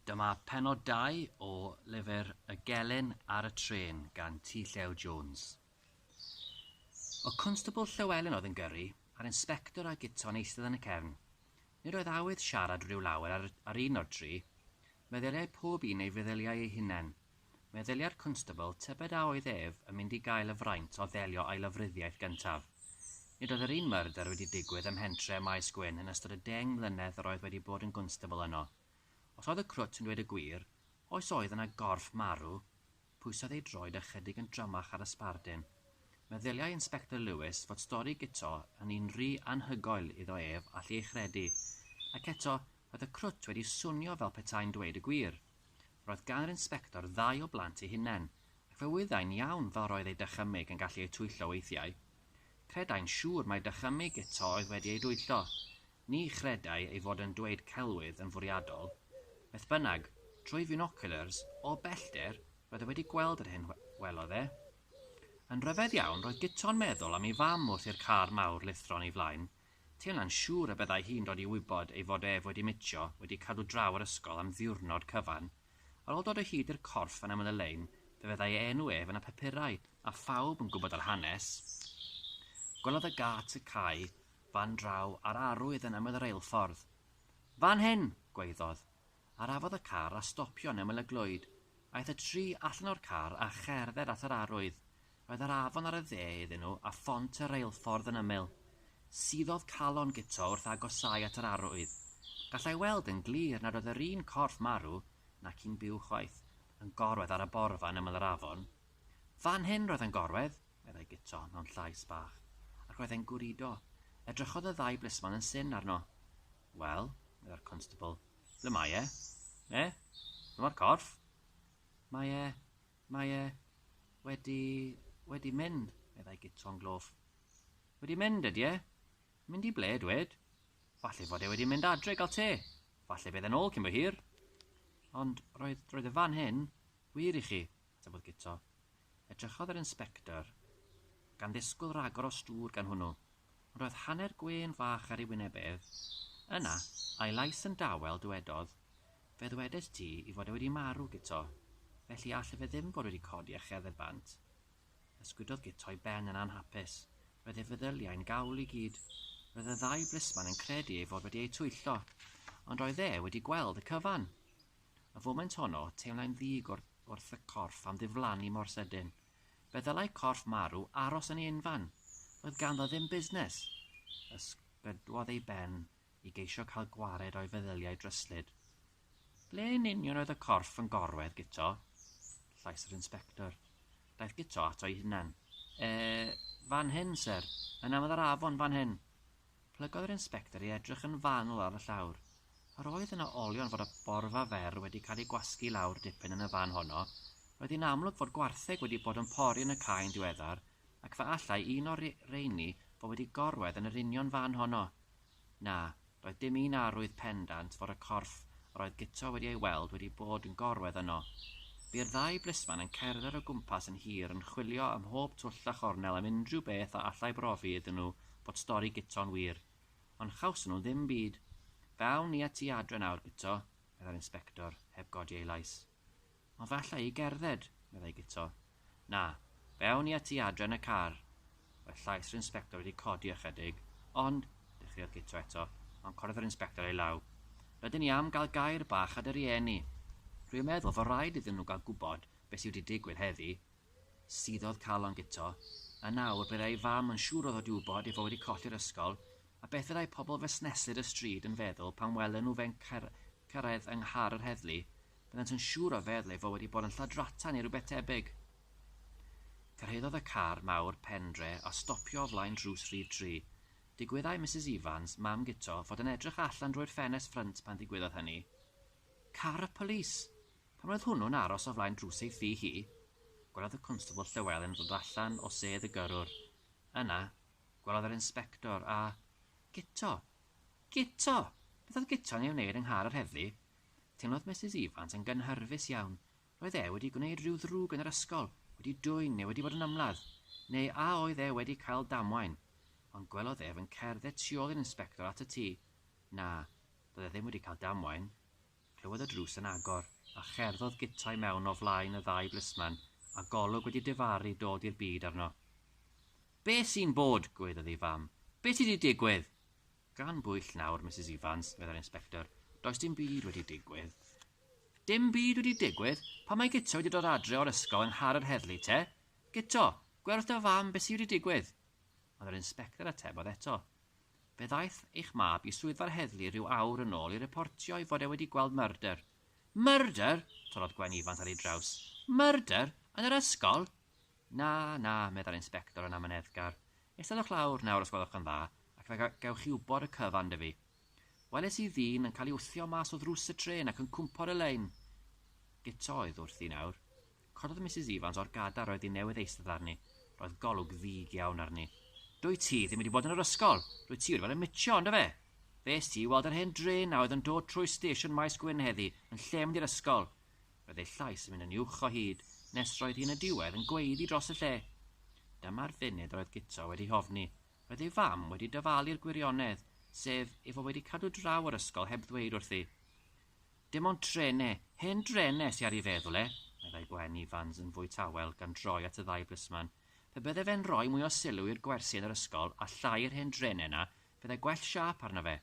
Dyma penodau o lyfr Y Gelyn ar y Trên gan T. Llew Jones. O Constable Llewelyn oedd yn gyrru, a'r inspector a Guto'n eistedd yn y cefn. Nid oedd awydd siarad rhyw lawer ar, ar un o'r tri. Meddyliai pob un ei feddyliau ei hunain, Meddylia'r Cwnstabl tybed a oedd ef yn mynd i gael y fraint o ddelio â'i lofruddiaeth gyntaf. Nid oedd yr un myrdr wedi digwydd ym mhentre y Maes Gwyn yn ystod y deng mlynedd yr oedd wedi bod yn gwnstabl yno. Os oedd y crwt yn dweud y gwir, oes oedd yna gorff marw? Pwysodd ei droed ychydig yn drymach ar y sbardun. Meddyliai Inspector Lewis fod stori Guto yn un rhy anhygoel iddo ef allu ei chredu. Ac eto, oedd y crwt wedi swnio fel petai'n dweud y gwir. Roedd gan yr inspector ddau o blant ei hunain, ac fe wyddai'n iawn fel roedd ei dychymyg yn gallu eu twyllo weithiau. Credai'n siŵr mai dychymyg eto oedd wedi eu dwyllo. Ni chredai ei fod yn dweud celwydd yn fwriadol. Beth bynnag, trwy finoculars, o bellter, roedd e wedi gweld yr hyn welodd e. Yn rhyfedd iawn, roedd Guto'n meddwl am ei fam wrth i'r car mawr lithro'n ei flaen, Teyrna'n siŵr y byddai hi'n dod i wybod ei fod ef wedi mitio, wedi cadw draw yr ysgol am ddiwrnod cyfan. Ar ôl dod o hyd i'r corff yn ymyl y lein, fe fyddai ei enw ef yn y papurau, a phawb yn gwybod yr hanes. Gwelodd y gât y cae fan draw a'r arwydd yn ymyl y reilffordd. Fan hyn! gwaeddodd. Arafodd y car a stopio'n ymyl y glöyd. Aeth y tri allan o'r car a cherdded at yr arwydd. Roedd yr afon ar y dde iddyn nhw a phont y reilffordd yn ymyl. Suddodd calon Guto wrth agosáu at yr arwydd. Gallai weld yn glir nad oedd yr un corff marw, nac un byw chwaith, yn gorwedd ar y borfa yn ymyl yr afon. Fan hyn roedd e'n gorwedd! meddai Guto mewn llais bach. Ac roedd e'n gwrido. Edrychodd y ddau blismon yn syn arno. Wel, meddai'r constable, ble mae e? E? Dyma'r corff. Mae e, mae e, wedi, wedi mynd, meddai Guto'n gloff. Wedi mynd, ydy e? Mynd i ble, dwed? Falle fod e wedi mynd adre gael te. Falle bydd e'n ôl cyn bo hir. Ond roedd, roedd y fan hyn wir i chi, Tybed guto? Edrychodd yr inspector, gan ddisgwyl ragor o stŵr gan hwnnw, ond roedd hanner gwên fach ar ei wyneb ef. Yna, a'i lais yn dawel, dywedodd, Fe ddwedest ti i fod e wedi marw, guto, felly all efe ddim fod wedi codi a cherdded bant. Ysgwyddodd guto ei ben yn anhapus. Roedd ei feddyliau'n gawl i gyd. Roedd y ddau blisman yn credu ei fod wedi eu twyllo, ond roedd e wedi gweld y cyfan. Y foment honno, teimlai'n ddig wrth, wrth y corff am ddiflannu mor sydyn. Fe ddylai corff marw aros yn ei unfan. Doedd ganddo ddim busnes! Ysgydwodd ei ben i geisio cael gwared o'i feddyliau dryslyd. Ble yn union oedd y corff yn gorwedd, Guto? Llais yr inspector. Daeth Guto ato'i hunan. E, fan hyn, syr. Yn amledd yr afon, fan hyn. Plygodd yr inspector i edrych yn fanwl ar y llawr. Yr oedd yna olion fod y borfa fer wedi cael ei gwasgu i lawr dipyn yn y fan honno, roedd hi'n amlwg fod gwartheg wedi bod yn pori yn y cae'n diweddar, ac fe allai un o'r rheiny fod wedi gorwedd yn yr union fan honno. Na, doedd dim un arwydd pendant fod y corff yr oedd Guto wedi ei weld wedi bod yn gorwedd yno. Bu'r ddau blisman yn cerdded o gwmpas yn hir yn chwilio ym mhob twll a chornel am unrhyw beth a allai brofi iddyn nhw bod stori Guto'n wir, ond chawson nhw ddim byd. Fe awn ni â ti adre nawr, Guto, meddai'r Inspector, heb godi ei lais. Ond fe alla i gerdded, meddai Guto. Na, fe awn ni â ti adre yn y car. Roedd llais yr Inspector wedi codi ychydig, ond, dechreuodd Guto eto, ond corodd yr Inspector ei law. Rydyn ni am gael gair bach â dy rieni. Rwy'n meddwl fod rhaid iddyn nhw gael gwybod beth sydd wedi digwydd heddi, Suddodd calon Guto, a nawr byddai ei fam yn siŵr o ddod i wybod ei fod wedi colli'r ysgol, a beth fyddai pobl fusneslyd y stryd yn feddwl pan welen nhw fe'n cyrraedd yng nghar yr heddlu, byddant yn siŵr o feddwl ei fod wedi bod yn lladrata neu rywbeth tebyg. Cyrhaeddodd y car mawr pen-dre a stopio o flaen drws rhif tri. Digwyddai Misus Evans, mam Guto, fod yn edrych allan drwy'r ffenest ffrynt pan ddigwyddodd hynny. Car y polis! Pan oedd hwnnw'n aros o flaen drws ei thŷ hi, gwelodd y Constabl Llewelyn ddod allan o sedd y gyrrwr. Yna, gwelodd yr Inspector, a, Guto! Guto! Beth oedd Guto'n ei wneud yng nghar yr heddlu? Teimlodd Misus Evans yn gynhyrfus iawn. Roedd e wedi gwneud rhyw ddrwg yn yr ysgol, wedi dwyn neu wedi bod yn ymladd, neu a oedd e wedi cael damwain. Ond gwelodd ef yn cerdded tu ôl i'r Inspector at y tŷ. Na, doedd e ddim wedi cael damwain. Clywodd y drws yn agor, a cherddodd Guto i mewn o flaen y ddau blisman, a golwg wedi difaru dod i'r byd arno. Be sy'n bod? gwaeddodd ei fam. Be sy wedi digwydd? Gan bwyll nawr, Misus Ifans, meddai'r inspector. Does dim byd wedi digwydd. Dim byd wedi digwydd? Pan mae Guto wedi dod adre o'r ysgol yng nghar yr heddlu, te? Guto, gwed wrth dy fam be sy wedi digwydd. Ond yr inspector atebodd eto. Fe ddaeth eich mab i swyddfa'r heddlu rhyw awr yn ôl i reportio ei fod e wedi gweld murder. Murder! torrodd Gwen ifanc ar ei draws. Murder? Yn yr ysgol? Na, na, meddai'r inspector yn amyneddgar. Estedwch lawr nawr os gwelwch yn dda, ac fe gewch chi wybod y cyfan, Dyfi. Weles i ddyn yn cael ei wthio mas o ddrws y trên ac yn cwmpo ar y lein. Guto oedd wrthi nawr. Cododd Misus Evans o'r gadair roedd hi newydd eistedd arni. Roedd golwg ddig iawn arni. Dwyt ti ddim wedi bod yn yr ysgol! Rwyt ti wedi bod yn mytsio, yn dyfe? Fes ti i weld yr hen dren 'na oedd yn dod trwy stesion Maes Gwyn heddi yn lle mynd i'r ysgol? Roedd ei llais yn mynd yn uwch o hyd, nes roedd hi yn y diwedd yn gweiddi dros y lle. Dyma'r funud yr oedd Guto wedi hofni. Roedd ei fam wedi dyfalu'r gwirionedd, sef ei fod wedi cadw draw o'r ysgol heb ddweud wrthi. Dim ond trene, hen drene, sy ar 'i feddwl e, meddai Gwen Ifans yn fwy tawel, gan droi at y ddau blisman. Pe bydde fe'n rhoi mwy o sylw i'r gwersi yn yr ysgol, a llai i'r hen drene 'na, fyddai gwell siâp arno fe.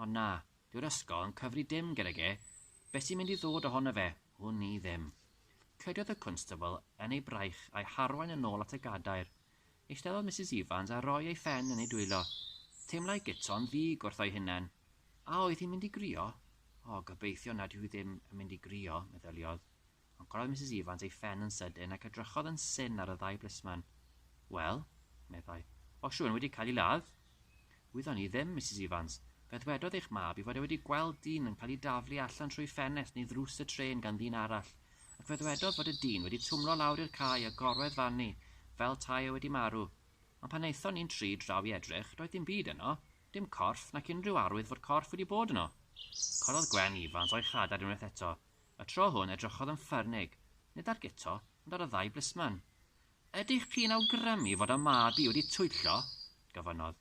Ond na, dyw'r ysgol 'n cyfri dim gydag e. Be' sy'n mynd i ddod ohono fe? Wn i ddim. Cydiodd y Cwnstabl yn ei braich a'i harwain yn ôl at y gadair. Eisteddodd Misus Ifans a rhoi ei phen yn ei dwylo. Teimlai guto'n ddig wrtho'i hunan. A oedd hi'n mynd i grio? O, gobeithio nad yw hi ddim yn mynd i grio, meddyliodd, ond corodd Misus Evans ei phen yn sydyn ac edrychodd yn syn ar y ddau blisman. Wel, meddai, o Siôn wedi cael ei ladd? Wyddon ni ddim, Misus Evans. Fe ddwedodd eich mab i fod e wedi gweld dyn yn cael ei daflu allan trwy ffenest neu ddrws y trên gan ddyn arall, ac fe ddwedodd fod y dyn wedi twmlo lawr i'r cae a gorwedd fanni fel tae e wedi marw. Ond pan aethon ni'n tri draw i edrych, doedd dim byd yno. Dim corff nac unrhyw arwydd fod corff wedi bod yno. Corodd Gwen Ifans o'i chadair unwaith eto. Y tro hwn edrychodd yn ffyrnig, nid ar Guto, ond ar y ddau blismon. Ydych chi'n awgrymu fod y mab i wedi twyllo? gofynnodd.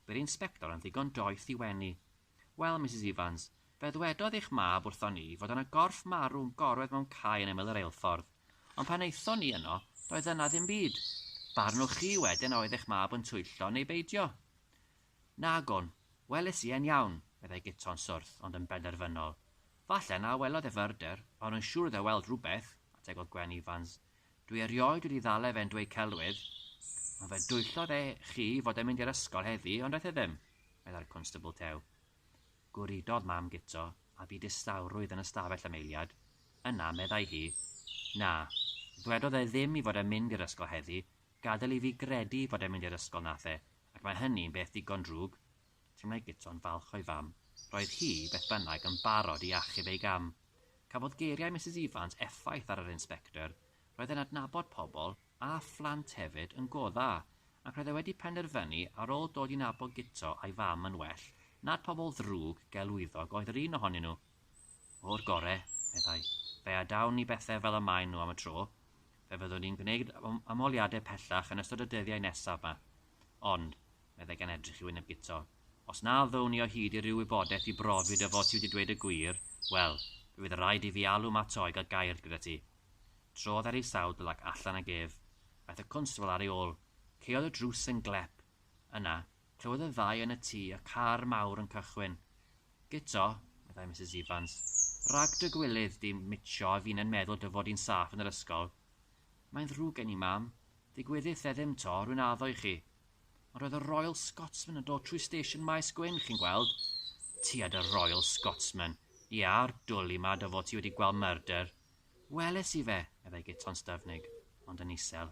Bu'r inspector yn ddigon doeth i wenu. Wel, Misus Ifans, fe ddwedodd eich mab wrthon ni fod yna gorff marw yn gorwedd mewn cae yn ymyl y reilffordd, ond pan aethon ni yno, doedd yna ddim byd. Barnwch chi wedyn a oedd eich mab yn twyllo neu beidio? Nagon, welis i e'n iawn, meddai Guto'n syrth ond yn benderfynol. Falle na welodd e fyrder, ond rwy'n siŵr iddo weld rhywbeth, ategodd Gwen Ifans. Dwi erioed wedi ddale fe'n dweud celwydd. Ond fe dwyllodd e chi fod yn mynd i'r ysgol heddi ond daeth e ddim, meddai'r constable tew. Gwridodd mam Guto, a bu distawrwydd yn y stafell am eiliad. Yna, meddai hi, Na, ddwedodd e ddim i fod yn mynd i'r ysgol heddi, Gadael i fi gredu fod e'n mynd i'r ysgol nath e, ac mae hynny'n beth digon drwg. Tra mae Guto'n falch o'i fam, roedd hi, beth bynnag, yn barod i achub ei gam. Cafodd geiriau Misus Ifans effaith ar yr inspector, roedd e'n adnabod pobl, a phlant hefyd, yn go dda, ac roedd e wedi penderfynu, ar ôl dod i nabod Guto a'i fam yn well, nad pobl ddrwg, gelwyddog oedd yr un ohonyn nhw. O'r gore, meddai, fe adawn ni bethau fel y maen nhw am y tro. Fe fyddwn ni'n gwneud ymholiadau pellach yn ystod y dyddiau nesaf 'ma. Ond, meddai gan edrych i wyneb Guto, os na ddown ni o hyd i ryw wybodaeth i brofi dy fod ti wedi dweud y gwir, wel, fe fydd raid i fi alw Mat Toi gael gair gyda ti. Trodd ar ei sawl blac allan ag ef. Aeth y constable ar ei ôl. Caeodd y drws yn glep. Yna, Clywodd y ddau yn y tŷ y car mawr yn cychwyn. Guto, meddai Misus Ifans, rhag dy gilydd di mitsio a fi'n yn meddwl dy fod di'n saff yn yr ysgol. Mae'n ddrwg gen i, Mam, ddigwyddith e ddim 'to, rwy'n addo i chi. Ond roedd y Royal Scotsman yn dod trwy Station Maes Gwyn, chi'n gweld. Tua dy Royal Scotsman, ie, a'r dwl i 'ma dy fod ti wedi gweld murder. Weles i fe, meddai Guto'n styfnig, ond yn isel.